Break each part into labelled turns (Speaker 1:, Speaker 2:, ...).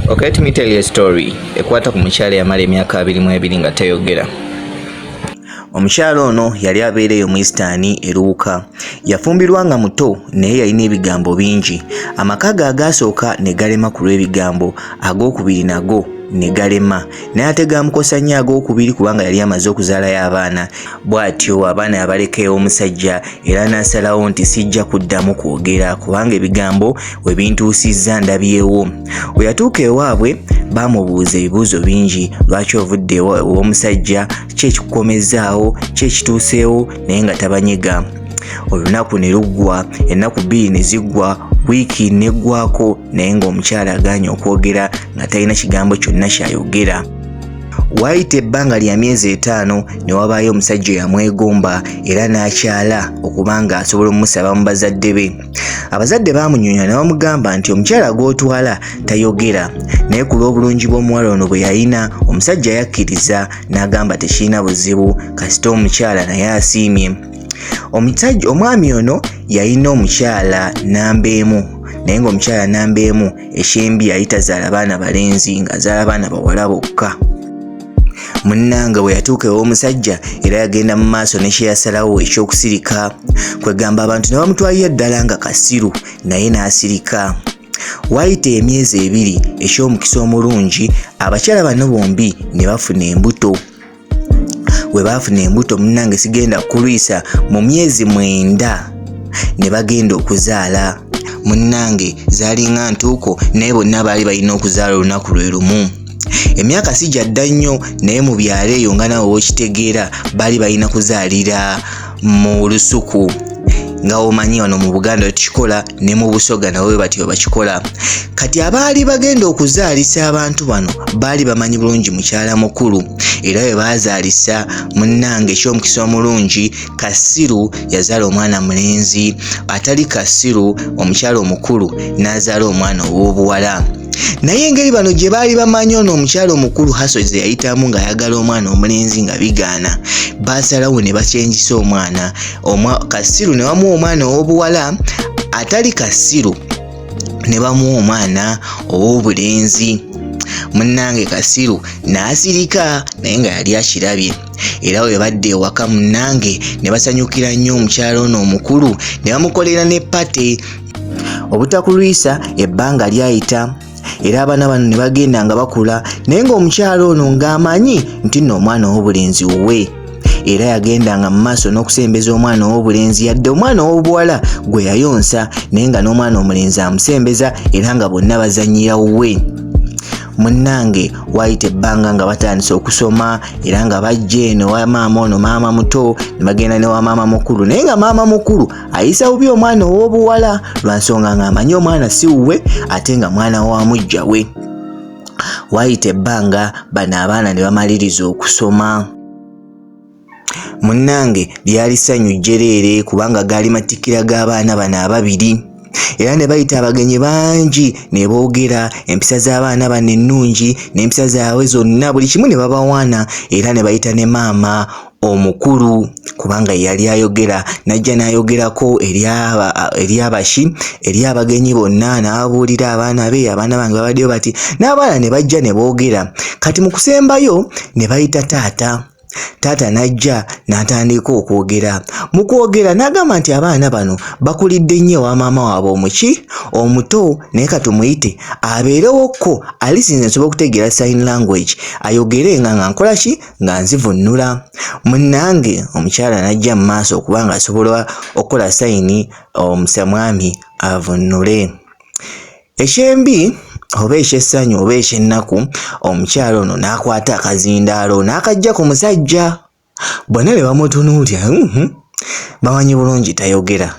Speaker 1: Okay, let me tell you a story ekwata ku mukyala yamala emyaka abiri mu ebiri nga teyogera omukyala ono yali abeereyo mu isitaani eruwuka yafumbirwa nga muto naye yalina ebigambo bingi amaka ge agaasooka ne galema ku lw'ebigambo ag'okubiri nago ne galema naye ate gaamukosa nnyo ag'okubiri kubanga yali amaze okuzaalayo abaana bw'atyo abaana abaleka ew'omusajja era n'asalawo nti sijja kuddamu kwogera kubanga ebigambo we bintuusizza ndabyewo we yatuuka ewaabwe baamubuuza ebibuuzo bingi lwaki ovudde ew'omusajja ki ekikukomezzaawo ki ekituuseewo naye nga tabanyega olunaku ne luggwa ennaku bbiri ne ziggwa wiiki n'eggwako naye ng'omukyala agaanye okwogera nga talina kigambo kyonna ky'ayogera Waayita ebbanga lya myezi etaano ne wabaayo omusajja eyamwegomba era n'akyala okuba ng'asobola okumusaba mu bazadde be. Abazadde baamunyonyola ne bamugamba nti omukyala gw'otwala tayogera naye ku lw'obulungi bw'omuwala ono bwe yalina omusajja yakkiriza n'agamba tekirina buzibu kasita omukyala naye asiimye. Omusajja omwami ono yalina omukyala nnamba emu naye ng'omukyala nnamba emu ekyembi yali tazaala baana balenzi ng'azaala baana bawala bokka munnange bwe yatuuka ew'omusajja era yagenda mu maaso ne kye yasalawo eky'okusirika kwegamba abantu ne bamutwalira ddala nga kasiru naye n'asirika waayita emyezi ebiri eky'omukisa omulungi abakyala bano bombi ne bafuna embuto we baafuna embuto munnange sigenda kulwisa mu myezi mwenda ne bagenda okuzaala munnange zaalinga ntuuko naye bonna baali balina okuzaala olunaku lwe lumu emyaka sijja dda nnyo naye mu byalo eyo nga nawe wokitegeera baali balina kuzaalira mu lusuku nga omanyi wano mu buganda tukikola ne mu busoga nawe batyo bakikola kati abaali bagenda okuzaalisa abantu bano baali bamanyi bulungi mukyala mukulu era bwe baazaalisa munnange ekyomukisa omulungi kasiru yazaala omwana mulenzi atali kasiru omukyala omukulu n'azaala omwana ow'obuwala naye engeri bano gye baali bamanyi ono omukyala omukulu hasozi ze yayitamu ng'ayagala omwana omulenzi nga bigaana baasalawo ne bakyengisa omwana kasiru ne wamuwa omwana ow'obuwala atali kasiru ne bamuwa omwana ow'obulenzi munnange kasiru n'asirika naye nga yali akirabye era bwe badde ewaka munnange ne basanyukira nnyo omukyala ono omukulu ne bamukolera ne pate obutakulwisa ebbanga lyayita era abaana bano ne bagenda nga bakula naye ng'omukyalo ono ng'amanyi nti nno omwana ow'obulenzi wuwe era yagendanga mu maaso n'okusembeza omwana ow'obulenzi yadde omwana ow'obuwala gwe yayonsa naye nga n'omwana omulenzi amusembeza era nga bonna bazanyira wuwe munnange waayita ebbanga nga batandise okusoma era nga bajja eno wa maama ono maama muto ne bagenda ne wa maama mukulu naye nga maama mukulu ayisa bubi omwana ow'obuwala lwa nsonga ng'amanyi omwana si wuwe ate nga mwana wa mujja we waayita ebbanga bano abaana ne bamaliriza okusoma munnange lyali ssanyu jjereere kubanga gaali matikkira g'abaana bano ababiri era ne bayita abagenyi bangi ne boogera empisa z'abaana bano ennungi n'empisa zaabwe zonna buli kimu ne babawaana era ne bayita ne maama omukulu kubanga yali ayogera n'ajja n'ayogerako eri abashi eri abagenyi bonna n'ababuulira abaana be abaana bange babaddeyo bati n'abaana ne bajja ne boogera kati mu kusembayo ne bayita taata taata n'ajja n'atandika okwogera mu kwogera n'agamba nti abaana bano bakulidde nnyo ewa maama waabwe omuki omuto naye ka tumuyite abeerewokko alisinze nsobola okutegeera sign language ayogere nga nga nkola ki nga nzivunnula munnange omukyala n'ajja mu maaso okuba nga asobola okukola sayini omusa mwami avunnule ekyembi oba ekyessanyu oba ekyennaku omukyala ono n'akwata akazindaalo n'akajja ku musajja bonna ne bamutunuulya mm-hmm. bamanyi bulungi tayogera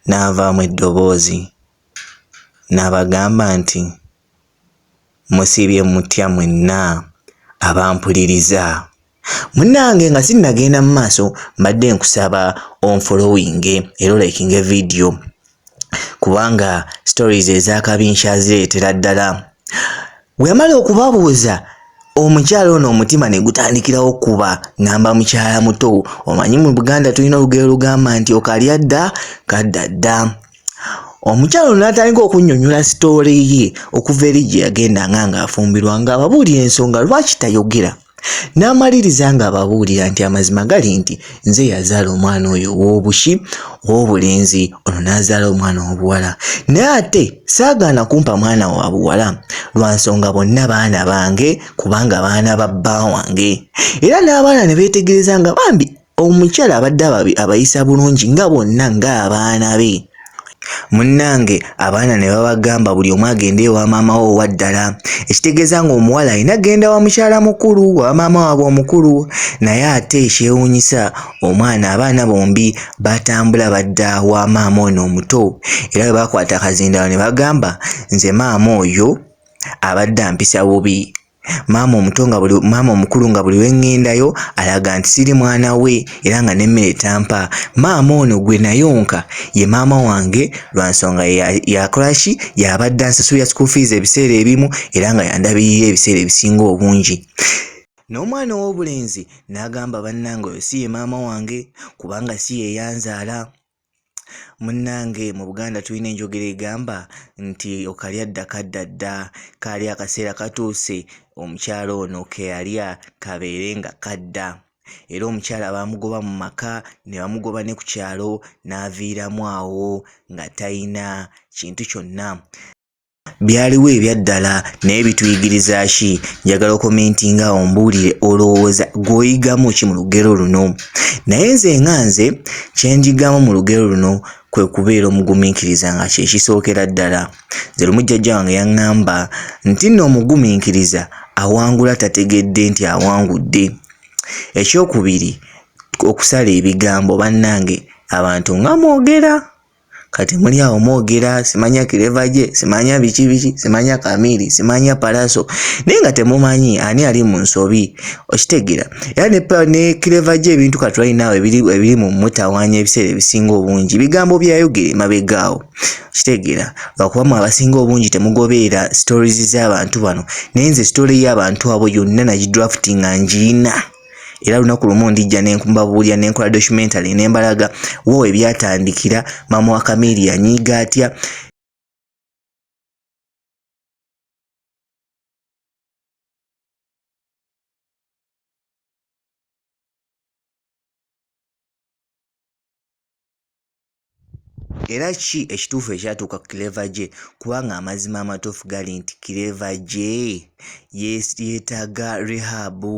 Speaker 1: n'avaamu eddoboozi n'abagamba nti Musiibye mutya mwenna abampuliriza? Munnange nga sinnagenda mu maaso mbadde nkusaba onfolowinge era olayikinge vidiyo kubanga stories ez'akabi nkyazireetera ddala. Weyamala okubabuuza omukyala ono omutima ne gutandikirawo okukuba ngamba mukyala muto omanyi mu Buganda tulina olugero olugamba nti okalya dda kadda dda. omukyalo n'atandika okunnyonnyola sitoole ye okuva eri gye yagendanga ng'afumbirwa ng'ababuulira ensonga lwaki tayogera n'amaliriza ng'ababuulira nti amazima gali nti nze yazaala omwana oyo ow'obuki ow'obulenzi ono n'azaala omwana ow'obuwala naye ate saagaana kumpa mwana wa buwala lwa nsonga bonna baana bange kubanga baana ba bba wange era n'abaana ne beetegereza nga bambi Omukyala abadde abayisa bulungi nga bonna ng'abaana be. Munnange abaana ne babagamba buli omu agende ewa maama we owa ddala ekitegeeza ng'omuwala alina genda wa mukyala mukulu wa maama waabwe omukulu naye ate ekyewuunyisa omwana abaana bombi batambula badda wa maama ono omuto era bwe bakwata akazindalo ne bagamba nze maama oyo abadde ampisa bubi. maama omuto nga buli maama omukulu nga buli wengendayo alaga nti siri mwana we era nga nemmere tampa maama ono gwe nayonka ye maama wange lwa nsonga yakolaki yabadde ansasulira school fees ebiseera ebimu era nga yandabirira ebiseera ebisinga obungi n'omwana ow'obulenzi n'agamba bannange oyo si ye maama wange kubanga si yeyanzaala munnange mu buganda tulina enjogera egamba nti okalya dda kadda dda kaali akaseera katuuse omukyala ono keyalya kabeere nga kadda era omukyala baamugoba mu maka ne bamugoba ne ku kyalo n'aviiramu awo nga tayina kintu kyonna byaliwo ebyaddala naye bituyigiriza ki njagala okomenti nga ombuulire olowooza gwoyigamu ki mu lugero luno naye nze nga nze kyenjigamu mu lugero luno kwe kubeera omugumiikiriza nga kyekisookera ddala nze lumu jjajja wange yaŋŋamba nti nno omugumiikiriza awangula tategedde nti awangudde ekyokubiri okusala ebigambo bannange abantu nga mwogera Kati muli awo mwogera simanya kireva gye simanya biki biki simanya kamiiri simanya palaso naye nga temumanyi ani ali mu nsobi okitegera era ne, ne kireva gye ebintu katulinawo ebiri mu mutawanya ebiseera ebisinga obungi bigambo byayogere mabegaawo okitegera lwakuba mu abasinga obungi temugobeera stories z'abantu bano naye nze story y'abantu abo yonna nagidrafti nga ngiina era lunaku lumu ndijja nembabuulira nenkola documentary nembalaga wo webyatandikira maama wa kamiri yanyiiga atya era ki ekituufu ekyatuuka ku kireva gye kubanga amazima amatuufu gali nti kireva gye yeetaaga rehabu